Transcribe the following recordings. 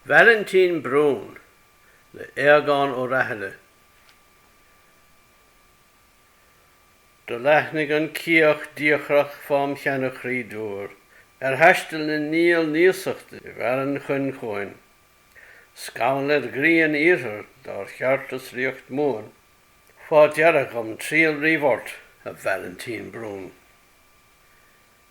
Vailintín Brún le Aodhagán Ó Rathaille Do leathnaigh an ciach diachrach fám sheana chroí dúr, Ar thaisteal na ndiabhal n-iasachta i bhfearann Choinn chughainn, Scamall ar ghrian iarthair dár cheartas ríocht Mumhan, Fá deara dhom triall riamh ort, a Vailintín Brún.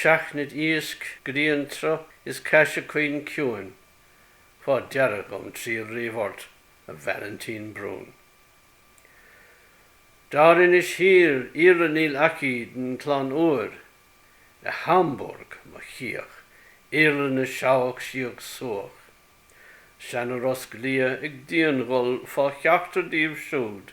seachnaid iasc griantsruth is caise caoin ciúin fá deara dhom triall riamh ort a Vailintín Brún. Dairinis thiar iarla níl aici den chlainn úir, i Hamburg mo chiach iarla na seabhac síoch subhach, seana rosc liath ag dian-ghol fá cheachtar díobh súd.